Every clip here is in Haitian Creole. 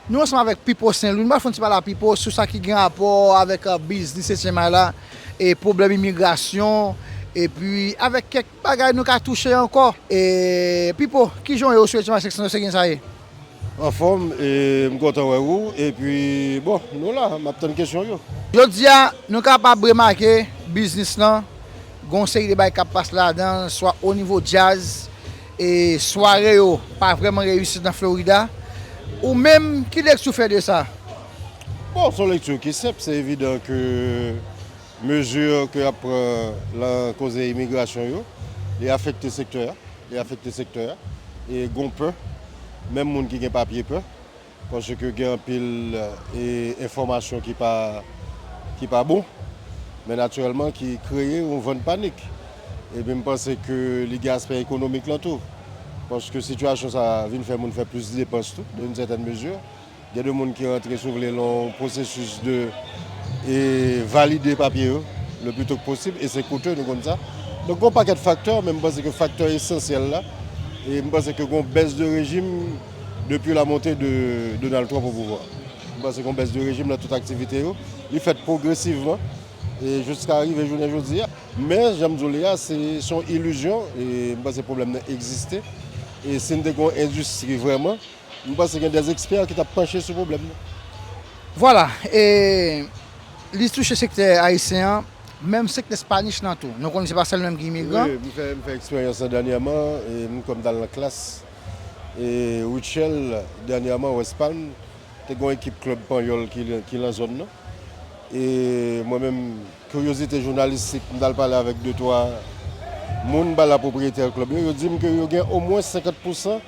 Nou ansanm avèk Pipo Senlwi, nou pral fè yon ti pale a Pipo sou sa ki gen rapò avèk biznis Etyennmay la, pwoblèm imigrasyon, epi avèk kèk Bagay nou ka touche ankò. E Pipo kijan w ye ou swete match seksyon se gen sa ye? Anfòm e m kontan wè ou epi bon nou la map tann kesyon yo. Jodi a nou kapab remake biznis lan gen yon seri de bagay kap pase ladan l swa o nivo djaz e sware yo pa vrèman reyisi nan Florida ou menm ki lekti w fè de sa? Bon s on lekti ki senp se evidan ke. Mezi ke yap pran lan koze imigrasyon yo, li afekte sektè a, li afekte sektè a. E gon pè, menm moun ki gen papye pè, paske gen anpil enfòmasyon ki pa, ki pa bon, men natirèlman ki kreye yon van panik. Epi m panse ke li gen aspè ekonomik lan tou, paske sitiyasyon sa a vin fè moun fè plis depans tou, dan yn sètèn mezi. Gen de moun ki rantre si w vle lan yon pwosesis de valide papye yo le pli to ke posib e se koute nou konn sa. Donk gen yon pakèt faktè men m panse ke faktè esansyèl la e m panse ke gen yon bès de rejim depi la monte de Donald Trump o pouvwa. M panse gen yon bès de rejim lan tout aktivite yo. Li fèt pwogresivman e jiska rive jounen jodi a. Men jan m di w li a se yon ilizyon e m panse pwoblèm nan egziste e si n te gen yon endistri vrèman M panse gen des experts ki tap panche sou pwoblèm nan. Vwala, e li touche sektè ayisyen an, menm sektè Spanish lan tou. Nou konnen se pa sèl nou menm ki imigran. Wi, m fè m fè eksperyans lan dènyèman, e m kwè m t al nan klas e Rutshelle dènyèman West Palm, te gen yon ekip klèb panyòl ki lan zòn nan. E mwen menm kiryozite jounalistik, m t al pale avèk de twa moun, m pale a pwopriyetè klèb yo, yo di m ke yo gen omwens 50 pousan.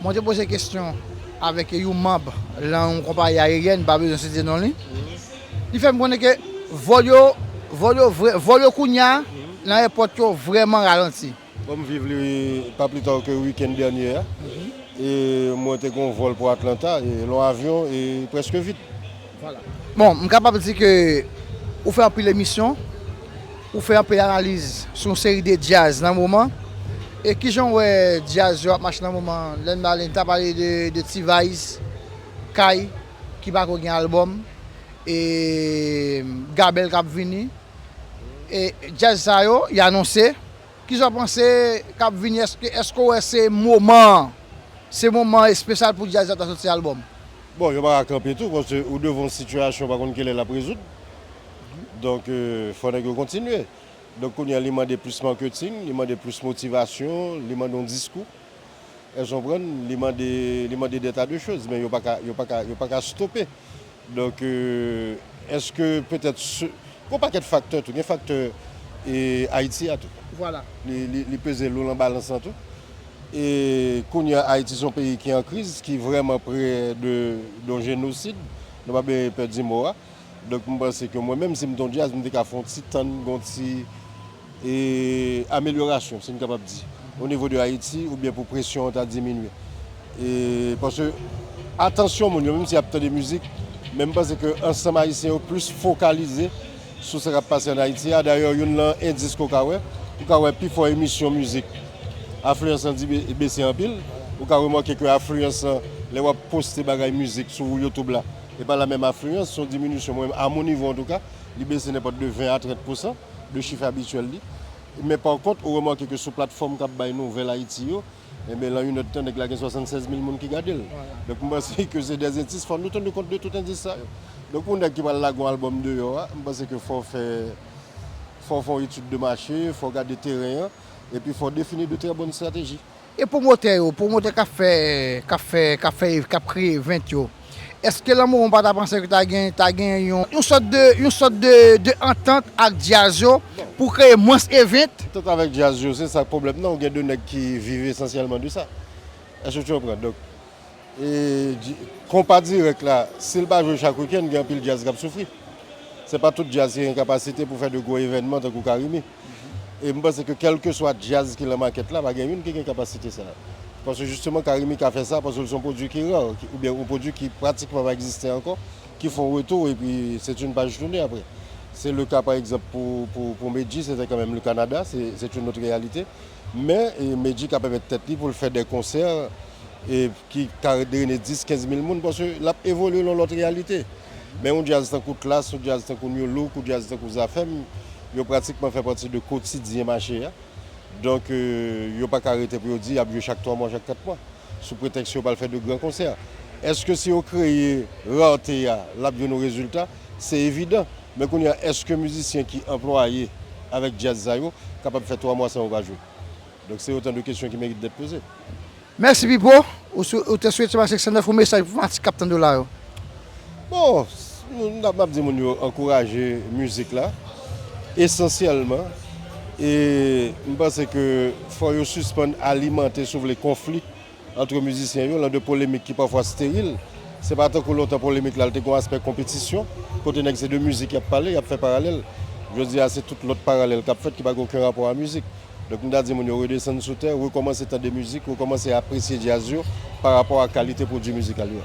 Mwen te poze kesyon avèk yon manb lan yon konpayi ayeryèn, m pa bezwen site non li, li fè m konnen ke vòl yo, vòl yo vrè, vòl yo kounye a lan airport yo vrèman ralanti. Bon m viv li pa pli ta ke week-end dènye a e mwen te gen yon vòl pou Atlanta e lan avyon e prèske vid. Voilà. Bon, m kapab di ke ou fè anpil emisyon, ou fè anpil analiz sou yon seri de djaz nan moman, e kijan w wè djaz yo ap mache nan moman an? Lè n pale, n ta pale de T-vice, Kay ki pako gen album, e Gabel k ap vini, e djaz sa yo, y anonse, kijan w panse k ap vini, èske w wè se moman an, se moman espesyal pou djaz la ta soti album? Bon, yo pa ka kanpe tou paske ou devan yon sitiyasyon ou pa konn kilè l ap rezoud. Donk, fò nèg yo kontinye. Donk, kounye a li mande plis marketing, li mande plis motivasyon, li mande yon diskou. Èske w konprann? Li mande, li mande dè ta de choz. Men yo pa ka, yo pa ka, yo pa ka stope. Donk, èske petèt se, gen yon pakèt faktè tou. Gen faktè Ayiti a tou. Vwala. Li, li, li peze lou lan balans lan tou. E kounye a Ayiti son peyi ki an kriz, ki vrèman pre de yon jenosid, nou pa bezwen pè di mo a. Donk m panse ke mwen menm si m te yon djaz m te ka fè yon ti tann gen yon ti amelyorasyon si n kapab di o nivo de Ayiti oubyen pou presyon an ta diminye. E paske atansyon moun yo menm si y ap tande mizik men m panse ke ansanm Ayisyen yo plis fokalize. sou sa k ap pase ann Ayiti a. Dayè, youn lan endis ke w ka wè, ou ka wè pi fò emisyon mizik, afliyans lan bese anpil. Ou ka remake ke afliyans lan, lè w ap poste bagay mizik sou Youtube la, e pa lamen afliyans, se yon diminisyon mwen menm, a mon nivo antouka, li bese nenpòt de 20 a 30 pousan de chif abityèl li. Men pa kont, ou remake ke sou platfòm k ap bay nouvèl Ayiti yo, Enben lan yn èd tan nèg la gen 76 mil moun ki gadel. Donk m panse ke se dè entis fò nou tenu kont de tout endis sa yo. Donk yon nèg ki pral lage yon album deyò a, m panse ke fò fè fò fè yon etid de mache, fò gade teren an, epi fò defini de trè bòn strateji. E pwomotè yo, pwomotè kap fè kap fè kap fè kap kreye event yo? Eske lanmou ou pa ta panse ke ta gen ta gen yon yon sòt de yon sòt de de antant ak djaz yo pou kreye mwens event? Antant avèk djaz yo se sa k pwoblèm nan ou gen de nèg ki viv esansyèlman de sa èske tu konprann donk e konpa dirèk la si l pa jwe chak wikenn gen anpil djaz k ap soufri se pa tout djaz ki gen kapasite pou fè de gwo evènman tankou carimi. e m panse ke kèlkeswa djaz ki lan makèt la pa gen youn ki gen kapasite sa a. Paske jisteman Carimi ka fè sa paske l se yon pwodui ki ra oubyen yon pwodui ki pratikman pa egziste ankò ki fè yon retou epi se t youn paj toune aprè. Se le ka pa egzanp pou Medjy se te kan menm le Kanada se t youn lòt reyalite men Medjy ka pèmèt tèt li pou l fè de konsè ki ka drene 10, 15 mil moun paske l ap evolye lan lòt reyalite. Men yon djaz tankou Klass, yon djaz tankou Nu Look, yon djaz tankou Zafèm, yo pratikman fè pati de kotidyen mache a. Donk, yo pa ka rete pou yo di y ap jwe chak twa mwa, chak kat mwa, sou pretèks yo pral fè de gran konsè. Èske si yo kreye rarte a, l ap jwenn yon rezilta? Se evidan. Men kounye a, èske mizisyen ki anplwaye avèk djaz sa yo kapab fè twa mwa san yo pa jwe? Donk se otan de kesyon ki merite dèt poze. Mèsi Pipo, ou te swete bay 509 yon mesaj pou fanatik k ap tande w la yo? Bon, m ap di moun yo ankouraje mizik la esansyèlman e m panse ke fò yo sispann alimante si w vle konfli. Antre mizisyen yo, lan de polemik ki pafwa steril. Se pa tankou lontan polemik la, l te gon aspè konpetisyon, kote nèg se de mizik y ap pale, y ap fè paralèl. Jodi a, se tout lòt paralèl k ap fèt ki pa gen oken rapò a mizik. Donk m ta di moun yo redesann sou tè, rekòmanse tande mizik, rekòmanse apresye djaz yo pa rapò a kalite pwodui mizikal yo.